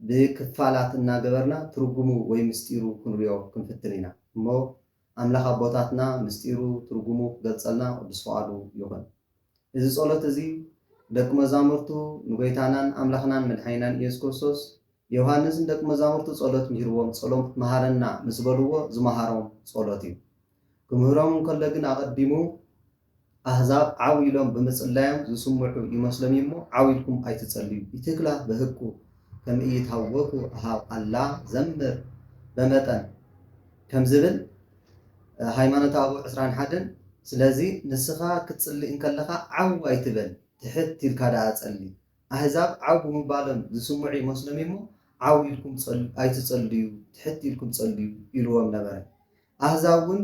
ብክፋላት እናገበርና ትርጉሙ ወይ ምስጢሩ ክንሪኦ ክንፍትን ኢና እሞ ኣምላኽ ኣቦታትና ምስጢሩ ትርጉሙ ክገልጸልና ቅዱስ ፍቓዱ ይኹን። እዚ ጸሎት እዚ ደቂ መዛሙርቱ ንጎይታናን ኣምላኽናን መድሓኒናን ኢየሱስ ክርስቶስ ዮውሃንስ ንደቂ መዛሙርቱ ጸሎት ምሂርዎም ጸሎት ምሃረና ምስ በልዎ ዝመሃሮም ጸሎት እዩ። ክምህሮም እንከሎ ግን ኣቐዲሙ ኣህዛብ ዓው ኢሎም ብምጽላዮም ዝስምዑ ይመስሎም እዩሞ ዓው ኢልኩም ኣይትጸልዩ ኢትክላ በህኩ ከምኢይትሃወኩ እሃብ ኣላ ዘምር በመጠን ከም ዝብል ሃይማኖተ ኣበው ዕስራን ሓደን ስለዚ ንስኻ ክትጽሊ እንከለኻ ዓው ኣይትበል ትሕት ኢልካ ደኣ ጸሊ ኣህዛብ ዓው ብምባሎም ዝስምዑ ይመስሎም እዩሞ ዓው ኢልኩም ኣይትጸልዩ ትሕት ኢልኩም ጸልዩ ኢልዎም ነበረ ኣህዛብ እውን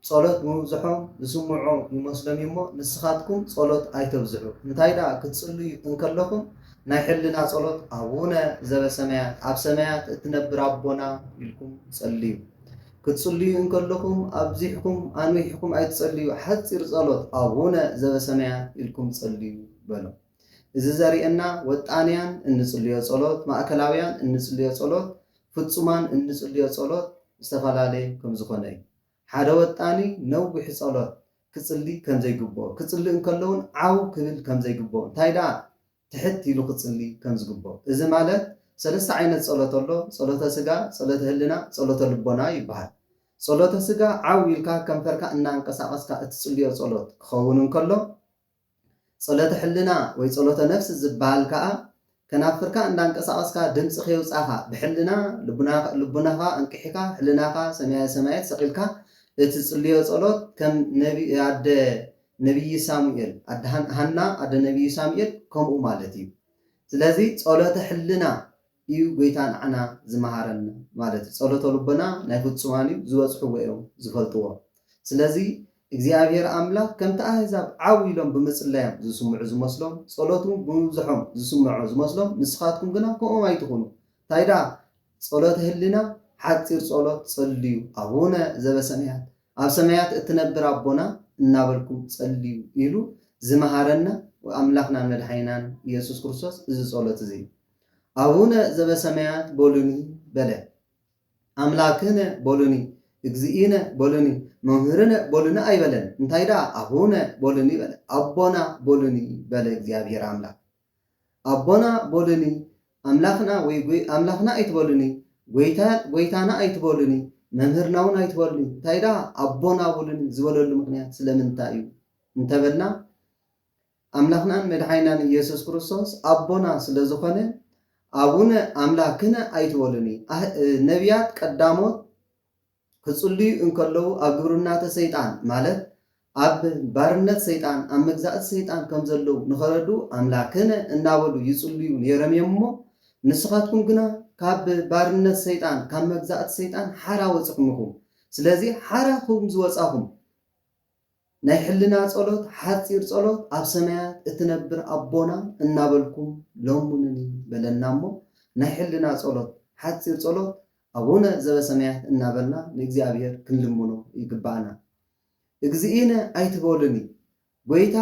ጸሎት ምብዝሖም ዝስምዑ ይመስሎም እዩ'ሞ፣ ንስኻትኩም ጸሎት ኣይተብዝሑ፣ እንታይ ደኣ ክትጽልዩ እንከለኹም፣ ናይ ሕልና ጸሎት፣ ኣቡነ ዘበሰማያት፣ ኣብ ሰማያት እትነብር ኣቦና፣ ኢልኩም ጸልዩ። ክትጽልዩ እንከለኹም፣ ኣብዚሕኩም ኣንዊሕኩም ኣይትጸልዩ፣ ሓጺር ጸሎት፣ ኣቡነ ዘበሰማያት፣ ኢልኩም ጸልዩ፣ በሎም። እዚ ዘርእየና፣ ወጣንያን እንጽልዮ ጸሎት፣ ማእከላውያን እንጽልዮ ጸሎት፣ ፍጹማን እንጽልዮ ጸሎት ዝተፈላለየ ከም ዝኾነ እዩ። ሓደ ወጣኒ ነዊሕ ጸሎት ክጽሊ ከም ዘይግብኦ፣ ክጽሊ እንከሎውን ዓው ክብል ከም ዘይግብኦ፣ እንታይ ደኣ ትሕት ኢሉ ክጽሊ ከም ዝግብኦ። እዚ ማለት ሰለስተ ዓይነት ጸሎት ኣሎ፣ ጸሎተ ስጋ፣ ጸሎተ ህልና፣ ጸሎተ ልቦና ይበሃል። ጸሎተ ስጋ ዓው ኢልካ ከንፈርካ እናንቀሳቐስካ እትጽልዮ ጸሎት ክኸውን እንከሎ፣ ጸሎተ ሕልና ወይ ጸሎተ ነፍስ ዝብሃል ከኣ ከናፍርካ እንዳንቀሳቐስካ ድምጺ ከየውጻኻ ብሕልና ልቡናኻ ኣንቂሕካ ሕልናኻ ሰማየ ሰማያት ሰቒልካ እትጽልዮ ጸሎት ከም ኣደ ነብዪ ሳሙኤል ኣደ ሃና ኣደ ነብዪ ሳሙኤል ከምኡ ማለት እዩ ስለዚ ጸሎተ ሕልና ኢዩ ጎይታ ንዓና ዝመሃረና ማለት ኢዩ ጸሎተ ልቦና ናይ ፍጹማን ኢዩ ዝበጽሕዎ ኢዮም ዝፈልጥዎ ስለዚ እግዚኣብሄር ኣምላክ ከምቲ ኣህዛብ ዓው ኢሎም ብምጽላዮም ዝስምዑ ዝመስሎም ጸሎቱ ብምብዝሖም ዝስምዖ ዝመስሎም ንስካትኩም ግና ከምኦም ኣይትኩኑ ታይ ደኣ ጸሎተ ህሊና ሓጺር ጸሎት ጸልዩ ኣቡነ ዘበሰማያት ኣብ ሰማያት እትነብር ኣቦና እናበልኩም ጸልዩ ኢሉ ዝመሃረና ኣምላክናን መድሓኒናን ኢየሱስ ክርስቶስ እዚ ጸሎት እዚ ኣቡነ ዘበሰማያት በሉኒ በለ። ኣምላክነ በሉኒ፣ እግዚእነ በሉኒ፣ መምህርነ በሉኒ ኣይበለን፣ እንታይ ደኣ ኣቡነ በሉኒ በለ። ኣቦና በሉኒ በለ እግዚኣብሔር ኣምላክ። ኣቦና በሉኒ፣ ኣምላክና ወይ ኣምላክና ኣይትበሉኒ፣ ጎይታ ጎይታና ኣይትበሉኒ፣ መምህርናውን ኣይትበሉኒ፣ እንታይ ደኣ ኣቦና በሉኒ ዝበለሉ ምክንያት ስለምንታይ እዩ እንተበልና ኣምላኽናን መድሓኒናን ኢየሱስ ክርስቶስ ኣቦና ስለ ዝኾነ ኣቡነ ኣምላክነ ኣይትበሉኒ ኣህ ነብያት ቀዳሞት ክጽልዩ እንከለዉ ኣብ ግብርናተ ሰይጣን ማለት ኣብ ባርነት ሰይጣን ኣብ መግዛእቲ ሰይጣን ከም ዘለዉ ንኸረዱ ኣምላክነ እናበሉ ይጽልዩ ነይሮም እዮም እሞ ንስኻትኩም ግና ካብ ባርነት ሰይጣን ካብ መግዛእቲ ሰይጣን ሓራ ወጽኹም ኢኹም ስለዚ ሓራ ኹም ዝወጻኹም ናይ ሕልና ጸሎት ሓጺር ጸሎት ኣብ ሰማያት እትነብር ኣቦና እናበልኩም ለሙኑኒ በለና እሞ ናይ ሕልና ጸሎት ሓጺር ጸሎት ኣቡነ ዘበሰማያት እናበልና ንእግዚኣብሔር ክንልምኖ ይግብኣና እግዚእነ ኣይትበሉኒ ጐይታ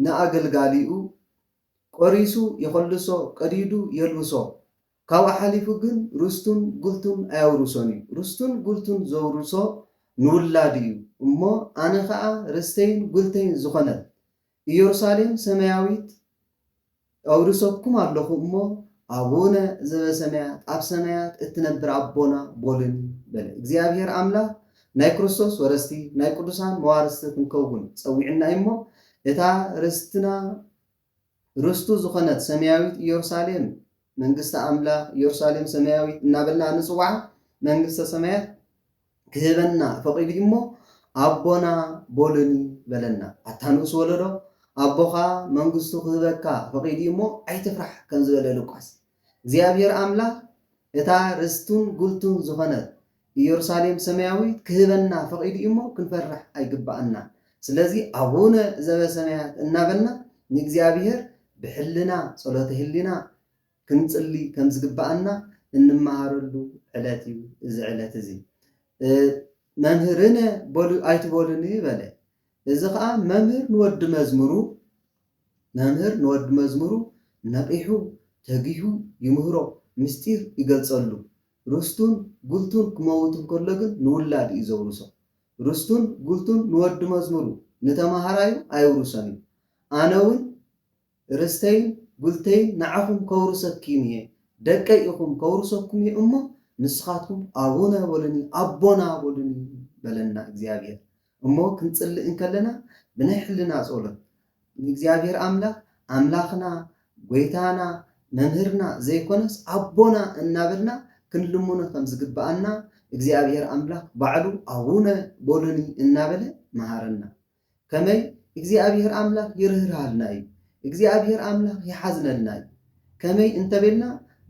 ንኣገልጋሊኡ ቆሪሱ የኾልሶ ቀዲዱ የልብሶ ካብኡ ሓሊፉ ግን ርስቱን ጉልቱን ኣየውርሶን እዩ። ርስቱን ጉልቱን ዘውርሶ ንውላዱ እዩ። እሞ ኣነ ኸኣ ርስተይን ጉልተይን ዝኾነት ኢየሩሳሌም ሰማያዊት ኣውርሰኩም ኣሎኹ እሞ፣ ኣቡነ ዘበሰማያት፣ ኣብ ሰማያት እትነብር ኣቦና፣ ቦሉኒ በለ። እግዚኣብሔር ኣምላኽ ናይ ክርስቶስ ወረስቲ፣ ናይ ቅዱሳን መዋርስቲ ክንከውን ጸዊዑና እዩ እሞ፣ እታ ርስትና፣ ርስቱ ዝዀነት ሰማያዊት ኢየሩሳሌም፣ መንግስቲ ኣምላኽ፣ ኢየሩሳሌም ሰማያዊት እናበልና እንጽውዓ መንግስተ ሰማያት ክህበና ፈቒዱ እዩ'ሞ፣ ኣቦና በሉኒ በለና። ኣታ ንኡስ ወለዶ፣ ኣቦኻ መንግስቱ ክህበካ ፈቒዱ እዩ'ሞ ኣይትፍራሕ ከም ዝበለ ሉቃስ፣ እግዚኣብሔር ኣምላኽ እታ ርስቱን ጉልቱን ዝዀነት ኢየሩሳሌም ሰማያዊት ክህበና ፈቒዱ እዩ እሞ ክንፈርሕ ኣይግብኣናን። ስለዚ ኣቡነ ዘበሰማያት እናበልና ንእግዚኣብሔር ብሕልና፣ ጸሎተ ህሊና፣ ክንጽሊ ከም ዝግብኣና እንመሃረሉ ዕለት እዩ እዚ ዕለት እዚ። መምህርነ በሉ ኣይትበሉኒ በለ። እዚ ኸኣ መምህር ንወዲ መዝሙሩ መምህር ንወዲ መዝሙሩ ነቒሑ ተጊሁ ይምህሮ ምስጢር ይገልጸሉ። ርስቱን ጉልቱን ክመውት እንከሎ ግን ንውላዱ እዩ ዘውርሶ። ርስቱን ጉልቱን ንወዲ መዝሙሩ፣ ንተማሃራዩ ኣየውርሶን እዩ። ኣነውን ርስተይን ጉልተይን ንዓኹም ከውርሰክዩም እየ፣ ደቀይ ኢኹም ከውርሰኩም እየ እሞ ንስኻትኩም ኣቡነ በሉኒ፣ ኣቦና በሉኒ በለና እግዚኣብሔር። እሞ ክንጽሊ እንከለና ብናይ ሕልና ጸሎት ንእግዚኣብሔር ኣምላኽ ኣምላኽና ጐይታና መምህርና ዘይኮነስ ኣቦና እናበልና ክንልምኖ ከም ዝግብኣና እግዚኣብሔር ኣምላኽ ባዕሉ ኣቡነ በሉኒ እናበለ መሃረና። ከመይ እግዚኣብሔር ኣምላኽ ይርህርሃልና እዩ። እግዚኣብሔር ኣምላክ ይሓዝነልና እዩ ከመይ እንተቤልና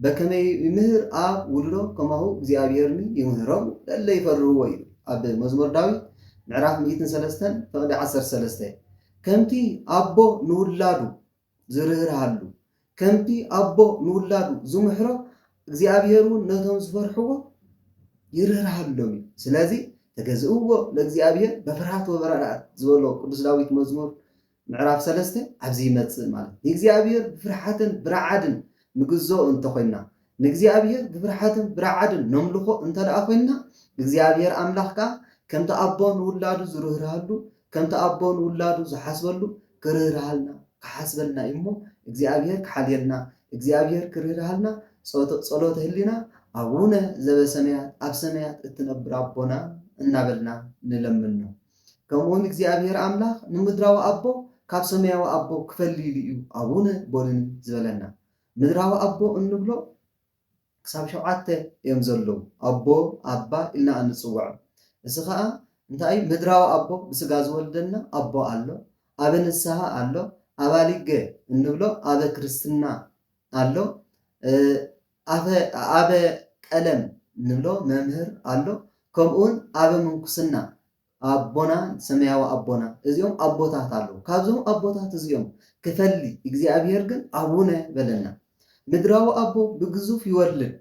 በከመይ ይምህር ኣብ ውልዶ ከማሁ እግዚኣብሔርኒ ይምህሮሙ ለለ ይፈርህዎ ይብል ኣብ መዝሙር ዳዊት ምዕራፍ ሚእትን ሰለስተን ፍቅዲ ዓሰርተ ሰለስተ ከምቲ ኣቦ ንውላዱ ዝርህርሃሉ ከምቲ ኣቦ ንውላዱ ዝምሕሮ እግዚኣብሔር እውን ነቶም ዝፈርሕዎ ይርህርሃሎም እዩ ስለዚ ተገዝእዎ ለእግዚኣብሔር በፍርሃት ወበረኣድ ዝበሎ ቅዱስ ዳዊት መዝሙር ምዕራፍ ሰለስተ ኣብዚ ይመጽእ ማለት ንእግዚኣብሄር ብፍርሓትን ብራዓድን ንግዝኦ እንተ ኾይንና ንእግዚኣብሄር ብፍርሓትን ብራዓድን ነምልኾ እንተ ደኣ ኾይንና እግዚኣብሄር ኣምላኽ ከኣ ከምቲ ኣቦ ንውላዱ ዝርህርሃሉ ከምቲ ኣቦ ንውላዱ ዝሓስበሉ ክርህርሃልና ክሓስበልና እዩ እሞ እግዚኣብሄር ክሓልየልና እግዚኣብሄር ክርህርሃልና ጸሎተ ህሊና ኣቡነ ዘበሰማያት ኣብ ሰማያት እትነብር ኣቦና እናበልና ንለምኖ ከምኡውን እግዚኣብሄር ኣምላኽ ንምድራዊ ኣቦ ካብ ሰማያዊ ኣቦ ክፈልይሉ እዩ ኣቡነ ቦሉኒ ዝበለና። ምድራዊ ኣቦ እንብሎ ክሳብ ሸውዓተ እዮም ዘለዉ ኣቦ ኣባ ኢልና እንጽውዖም እዚ ከኣ እንታይ እዩ ምድራዊ ኣቦ ብስጋ ዝወልደና ኣቦ ኣሎ ኣበ ንስሃ ኣሎ ኣባሊገ እንብሎ ኣበ ክርስትና ኣሎ ኣፈ ኣበ ቀለም ንብሎ መምህር ኣሎ ከምኡ ውን ኣበ ምንኩስና ኣቦና ሰማያዊ ኣቦና እዚኦም ኣቦታት ኣለዉ ካብዞም ኣቦታት እዚኦም ክፈሊ እግዚኣብሄር ግን ኣቡነ በለና ምድራዊ ኣቦ ብግዙፍ ይወልድ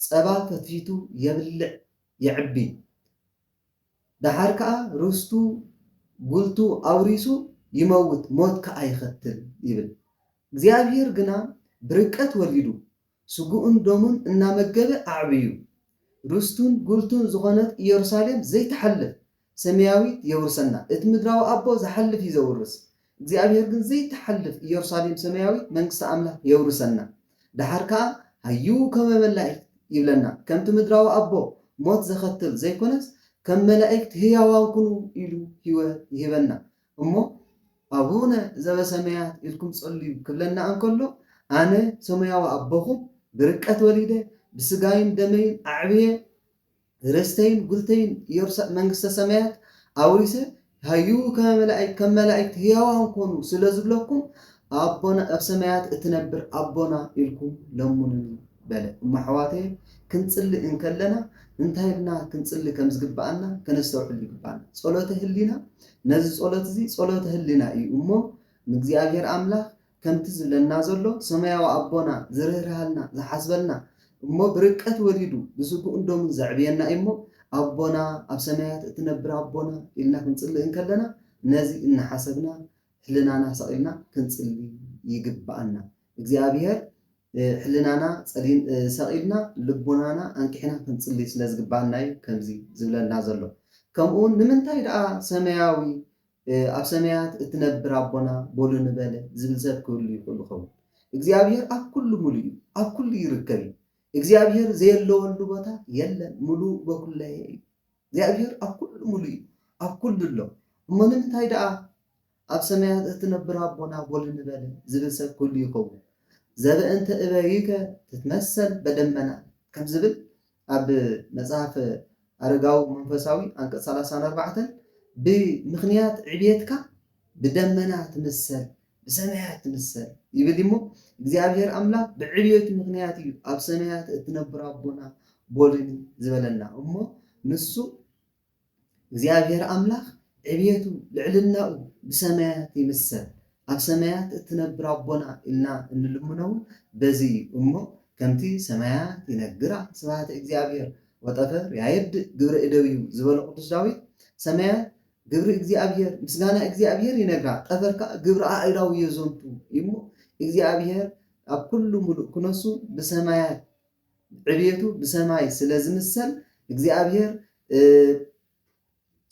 ጸባ ፈትፊቱ የብልዕ የዕቢ ደሓር ከኣ ርስቱ ጉልቱ ኣውሪሱ ይመውት ሞት ከኣ ይኸትል ይብል እግዚኣብሄር ግና ብርቀት ወሊዱ፣ ስግኡን ደሙን እናመገበ ኣዕብዩ፣ ርስቱን ጉልቱን ዝኾነት ኢየሩሳሌም ዘይትሓልፍ ሰማያዊት የውርሰና። እቲ ምድራዊ ኣቦ ዝሓልፍ እዩ ዘውርስ፣ እግዚኣብሄር ግን ዘይትሓልፍ ኢየሩሳሌም ሰማያዊት መንግስቲ ኣምላኽ የውርሰና። ደሓር ከኣ ሃይው ከመ መላእክት ይብለና፣ ከምቲ ምድራዊ ኣቦ ሞት ዘኸትል ዘይኮነስ ከም መላእክት ህያዋን ኩኑ ኢሉ ህይወት ይህበና። እሞ ኣቡነ ዘበሰማያት ኢልኩም ጸልዩ ክብለና እንከሎ ኣነ ሰማያዊ ኣቦኹም ብርቀት ወሊደ ብስጋይን ደመይን ኣዕብየ ርስተይን ጉልተይን ኢየሩሳ መንግስተ ሰማያት ኣውሪሰ ሃዩ ከመ መላእክት ከም መላእክት ህያዋን ኮኑ ስለ ዝብለኩም ኣቦና ኣብ ሰማያት እትነብር ኣቦና ኢልኩም ለሙኑኒ በለ። እሞ ኣሕዋተየ ክንጽሊ እንከለና እንታይ ኢልና ክንጽሊ ከም ዝግብኣና ከነስተውዕል ይግብኣና። ጸሎተ ህሊና ነዚ ጸሎት እዚ ጸሎተ ህሊና እዩ እሞ ንእግዚኣብሔር ኣምላኽ ከምቲ ዝብለና ዘሎ ሰማያዊ ኣቦና ዝርህርሃልና ዝሓስበልና እሞ ብርቀት ወሊዱ ብስግኡን ደሙን ዘዕብየና እዩ እሞ ኣቦና ኣብ ሰማያት እትነብር ኣቦና ኢልና ክንጽልእ እንከለና ነዚ እናሓሰብና ህልናና ሰቒልና ክንጽሊ ይግብኣና እግዚኣብሔር ሕልናና ጸሊም ሰቒልና ልቦናና ኣንቂሕና ክንጽሊ ስለ ዝግብኣና'ዩ ከምዚ ዝብለና ዘሎ። ከምኡ'ውን ንምንታይ ደኣ ሰማያዊ፣ ኣብ ሰማያት እትነብር ኣቦና በሉ ንበለ ዝብል ሰብ ክህሉ ይኽእሉ ይኸውን። እግዚኣብሄር ኣብ ኩሉ ምሉእ'ዩ፣ ኣብ ኩሉ ይርከብ'ዩ። እግዚኣብሄር ዘየለወሉ ቦታ የለን፣ ምሉእ በኩለሔ'ዩ። እግዚኣብሄር ኣብ ኩሉ ምሉእ'ዩ፣ ኣብ ኩሉ ኣሎ። እሞ ንምንታይ ደኣ? ኣብ ሰማያት እትነብር ኣቦና ጎል ንበለ ዝብል ሰብ ክህሉ ይኸውን። ዘበእንተ እበዩከ ትትመሰል በደመና ከም ዝብል ኣብ መጽሐፍ ኣረጋዊ መንፈሳዊ ኣንቀጽ ሰላሳን ኣርባዕተን ብምኽንያት ዕብየትካ ብደመና ትምሰል ብሰማያት ትምሰል ይብል እሞ እግዚኣብሔር ኣምላኽ ብዕብየቱ ምኽንያት እዩ ኣብ ሰማያት እትነብር ኣቦና ጎልኒ ዝበለና እሞ ንሱ እግዚኣብሔር ኣምላኽ ዕብየቱ ልዕልናኡ ብሰማያት ይምሰል ኣብ ሰማያት እትነብር ኣቦና ኢልና እንልምኖ እውን በዚ እዩ እሞ ከምቲ ሰማያት ይነግራ ስብሃተ እግዚኣብሔር ወጠፈር ያየድእ ግብረ እደዊሁ ዝበሎ ቅዱስ ዳዊት ሰማያት ግብሪ እግዚኣብሔር ምስጋና እግዚኣብሔር ይነግራ ጠፈር ከዓ ግብሪ ኣእዳው የዘንቱ እሞ እግዚኣብሔር ኣብ ኩሉ ሙሉእ ክነሱ ብሰማያት ዕብየቱ ብሰማይ ስለ ዝምሰል እግዚኣብሄር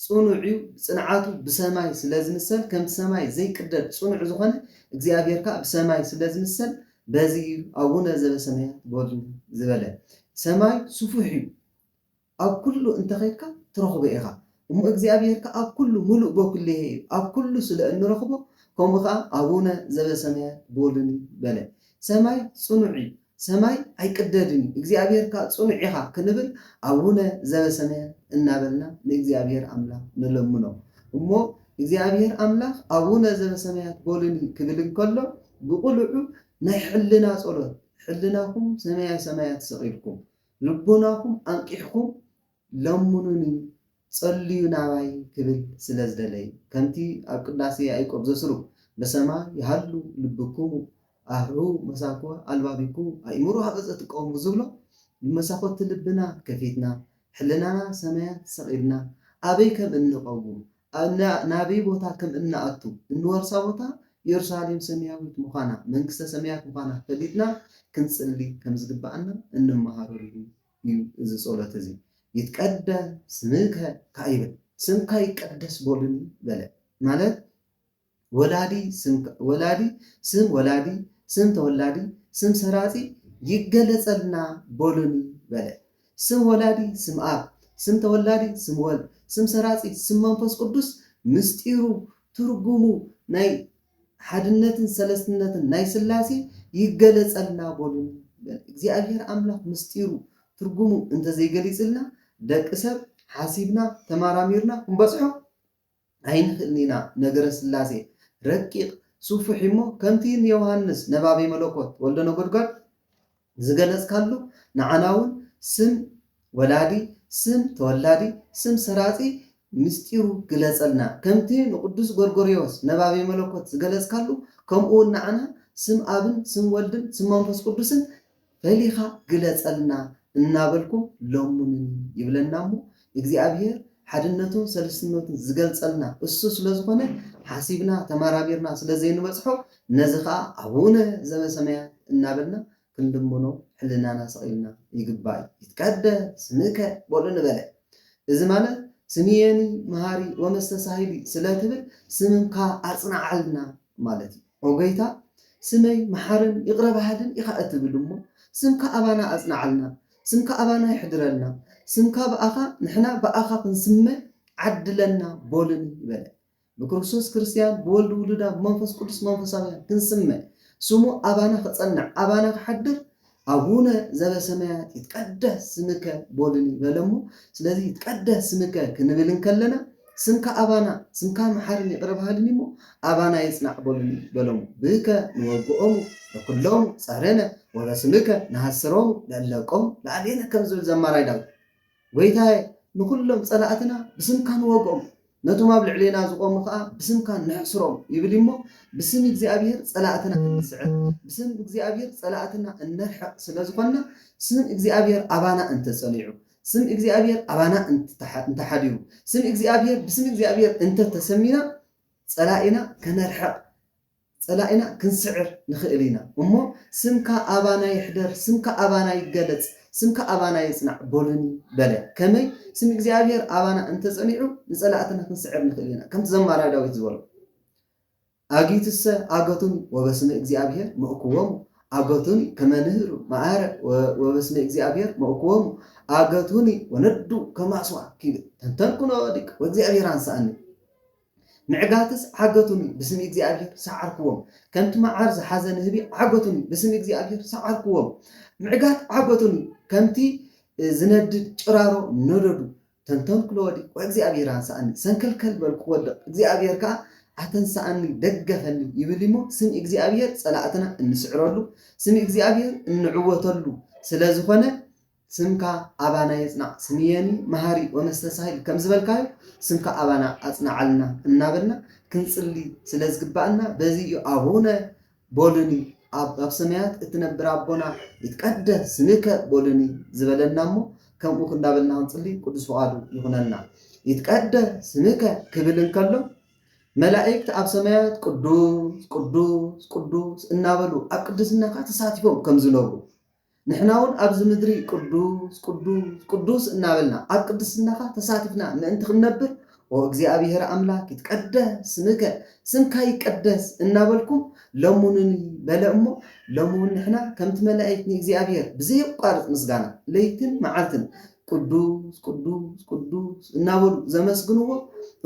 ጽኑዕ'ዩ፣ ጽንዓቱ ብሰማይ ስለ ዝምሰል ከምቲ ሰማይ ዘይቅደድ ጽኑዕ ዝኾነ እግዚኣብሄር ከኣ ብሰማይ ስለ ዝምሰል በዚ እዩ ኣቡነ ዘበሰማያት በሉ ዝበለ። ሰማይ ስፉሕ'ዩ፣ ኣብ ኩሉ እንተ ኸድካ ትረኽቦ ኢኻ እሞ እግዚኣብሔር ከኣ ኣብ ኩሉ ምሉእ በኩሌሄ እዩ ኣብ ኩሉ ስለ እንረኽቦ ከምኡ ከኣ ኣቡነ ዘበሰማያት በሉኒ በለ ሰማይ ጽኑዕ እዩ ሰማይ ኣይቅደድን እዩ እግዚኣብሔር ከኣ ጽኑዕ ኢኻ ክንብል ኣቡነ ዘበሰማያት እናበልና ንእግዚኣብሔር ኣምላኽ ንለምኖ እሞ እግዚኣብሔር ኣምላኽ ኣቡነ ዘበሰማያት በሉኒ ክብል እንከሎ ብቅሉዑ ናይ ሕልና ጸሎት ሕልናኹም ሰማየ ሰማያት ሰቂልኩም ልቦናኹም ኣንቂሕኩም ለምኑኒ ጸልዩ ናባይ ክብል ስለ ዝደለየ ከምቲ ኣብ ቅዳሴ ያኢቆብ ዘስሩ በሰማይ ይሃሉ ልብኩሙ ኣርሑ መሳኩ ኣልባቢኩሙ ኣእምሮ ሃበ ዘትቀውሙ ዝብሎ ብመሳኹቲ ልብና ከፊትና ሕልናና ሰማያት ሰቒልና ኣበይ ከም እንቐውም ኣና ናበይ ቦታ ከም እንኣቱ፣ እንወርሳ ቦታ የሩሳሌም ሰማያዊት ምዃና፣ መንግስተ ሰማያት ምዃና ፈሊጥና ክንጽሊ ከም ዝግብኣና እንመሃረሉ እዩ እዚ ጸሎት እዚ። ይትቀደስ ስምከ ከኣ ይብል። ስምካ ይቀደስ በሉኒ በለ። ማለት ወላዲ ስም ወላዲ ስም ወላዲ ስም ተወላዲ ስም ሰራጺ ይገለጸልና በሉኒ በለ። ስም ወላዲ ስም ኣብ ስም ተወላዲ ስም ወልድ ስም ሰራጺ ስም መንፈስ ቅዱስ ምስጢሩ ትርጉሙ ናይ ሓድነትን ሰለስትነትን ናይ ስላሴ ይገለጸልና በሉኒ በለ። እግዚኣብሔር ኣምላኽ ምስጢሩ ትርጉሙ እንተዘይገሊጽልና ደቂ ሰብ ሓሲብና ተመራሚርና ክንበጽሖ ኣይንክእልን ኢና ነገረ ሥላሴ ረቂቅ ሱፉሒ እሞ ከምቲ ን ዮውሃንስ ነባቤ መሎኮት ወልደ ነጎድጓድ ዝገለጽካሉ ንዓና ውን ስም ወላዲ ስም ተወላዲ ስም ሰራጺ ምስጢሩ ግለጸልና ከምቲ ንቅዱስ ጎርጎርዮስ ነባቤ መሎኮት ዝገለጽካሉ ከምኡ ውን ንዓና ስም ኣብን ስም ወልድን ስም መንፈስ ቅዱስን ፈሊኻ ግለጸልና እናበልኩም ለሙኑኒ ይብለና እሞ እግዚኣብሔር ሓድነቱን ሰልስትነቱን ዝገልጸልና እሱ ስለዝኾነ ሓሲብና ተመራሚርና ስለዘይንበጽሖ ነዚ ከኣ ኣቡነ ዘበሰማያት እናበልና ክንልምኖ ሕልናና ሰቒልና ይግባእ ይትቀደስ ስምከ በሉ ንበለ እዚ ማለት ስምየኒ መሃሪ ወመስተሳሂሊ ስለትብል ስምካ ኣጽንዓልና ማለት እዩ። ኦ ጎይታ ስመይ መሓርን ይቕረ በሃልን ኢኻ እትብል እሞ ስምካ ኣባና ኣጽንዓልና ስምካ ኣባና የሕድረልና ስምካ ብኣኻ ንሕና ብኣኻ ክንስመ ዓድለና ቦልኒ ይበለ ብክርስቶስ ክርስትያን ብወልድ ውሉዳ ብመንፈስ ቅዱስ መንፈሳውያን ክንስመ ስሙ ኣባና ክጸንዕ ኣባና ክሓድር ኣቡነ ዘበሰማያት ይትቀደስ ስምከ በሉኒ በለሞ ስለዚ ይትቀደስ ስምከ ክንብል እንከለና ስምካ ኣባና ስምካ መሓርን ይቅረ በሃልን እዩሞ ኣባና ይጽናዕ በሉኒ በሎሙ ብከ ንወግኦሙ ንኩሎሙ ጸርነ ወበስምከ ንሃስሮሙ ለእለቆሙ ለኣቤነ ከም ዝብል ዘማራይ ዳዊት ጐይታየ፣ ንዅሎም ጸላእትና ብስምካ ንወግኦም፣ ነቶም ኣብ ልዕሌና ዝቖሙ ኸኣ ብስምካ ነሕስሮም ይብል እዩ እሞ፣ ብስም እግዚኣብሄር ጸላእትና እንስዕር፣ ብስም እግዚኣብሄር ጸላእትና እነርሕቕ ስለ ዝዀንና፣ ስም እግዚኣብሄር ኣባና እንተ ጸኒዑ፣ ስም እግዚኣብሄር ኣባና እንተ ሓዲሩ፣ ስም እግዚኣብሄር ብስም እግዚኣብሄር እንተ ተሰሚና፣ ጸላኢና ከነርሕቕ ጸላኢና ክንስዕር ንኽእል ኢና እሞ ስምካ ኣባና ይሕደር፣ ስምካ ኣባና ይገለጽ፣ ስምካ ኣባና ይጽናዕ በሉኒ በለ። ከመይ? ስም እግዚኣብሄር ኣባና እንተ ጸኒዑ ንጸላእትና ክንስዕር ንኽእል ኢና። ከምቲ ዘማራይ ዳዊት ዝበሎ ኣግዩትሰ ኣገቱኒ ወበስመ እግዚኣብሄር መእኩዎሙ ኣገቱኒ ከመ ንህሩ መኣረ ወበስመ እግዚኣብሄር መእኩዎሙ ኣገቱኒ ወነዱ ከመ ኣስዋክ ይብል። ተንተንኩ ነወዲቅ ወእግዚኣብሄር ኣንሰኣኒ። ምዕጋትስ ዓገቱኒ፣ ብስም እግዚኣብሄር ሰዓርክዎም። ከምቲ መዓር ዝሓዘ ንህቢ ዓገቱኒ፣ ብስም እግዚኣብሄር ሰዓርክዎም። ምዕጋት ዓገቱኒ፣ ከምቲ ዝነድድ ጭራሮ ነደዱ። ተንተንኩ ለወዲ፣ ወእግዚኣብሄር ኣንሰኣኒ፣ ሰንከልከል በልኩ ክወድቕ፣ እግዚኣብሄር ከኣ ኣተንሰኣኒ፣ ደገፈኒ፣ ይብል እሞ፣ ስም እግዚኣብሄር ጸላእትና እንስዕረሉ፣ ስም እግዚኣብሄር እንዕወተሉ ስለ ዝኾነ፣ ስምካ ኣባና የጽናዕ ስምየኒ መሃሪ ወመስተሳሂል ከም ዝበልካዮ ስምካ ኣባና ኣጽንዓልና እናበልና ክንጽሊ ስለ ዝግብኣና በዚ እዩ ኣቡነ ቦሉኒ ኣብ ኣብ ሰማያት እትነብር ኣቦና ይትቀደስ ስምከ ቦሉኒ ዝበለና እሞ ከምኡ ክንዳበልና ክንጽሊ ቅዱስ ፍቓዱ ይኹነልና ይትቀደ ስምከ ክብል እንከሎ መላእክት ኣብ ሰማያት ቅዱስ ቅዱስ ቅዱስ እናበሉ ኣብ ቅድስናኻ ተሳቲፎም ከም ዝነብሩ ንሕናውን ኣብዚ ምድሪ ቅዱስ ቅዱስ ቅዱስ እናበልና ኣብ ቅድስናኻ ተሳቲፍና ምእንቲ ክንነብር ኦ እግዚኣብሔር ኣምላክ ይትቀደስ ስምከ ስምካ ይቀደስ እናበልኩም ለሙኑኒ በለ እሞ ሎሚ እውን ንሕና ከምቲ መላእክት ንእግዚኣብሔር ብዘየቋርፅ ምስጋና ለይትን መዓልትን ቅዱስ ቅዱስ ቅዱስ እናበሉ ዘመስግንዎ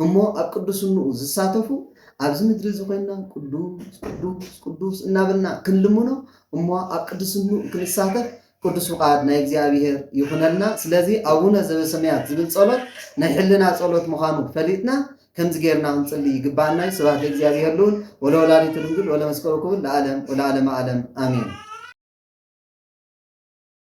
እሞ ኣብ ቅዱስንኡ ዝሳተፉ ኣብዚ ምድሪ እዚ ኮይንና ቅዱስ ቅዱስ ቅዱስ እናበልና ክንልምኖ እሞ ኣብ ቅድስንኡ ክንሳተፍ ቅዱስ ፍቃድ ናይ እግዚኣብሔር ይኹነልና። ስለዚ ኣቡነ ዘበሰማያት ዝብል ጸሎት ናይ ሕልና ጸሎት ምዃኑ ፈሊጥና ከምዚ ጌርና ክንጽሊ ይግብኣና እዩ። ስብሐት ለእግዚኣብሔር ልዑል ወለወላዲቱ ድንግል ወለመስቀሉ ክቡር ለዓለም ወለዓለመ ዓለም ኣሜን።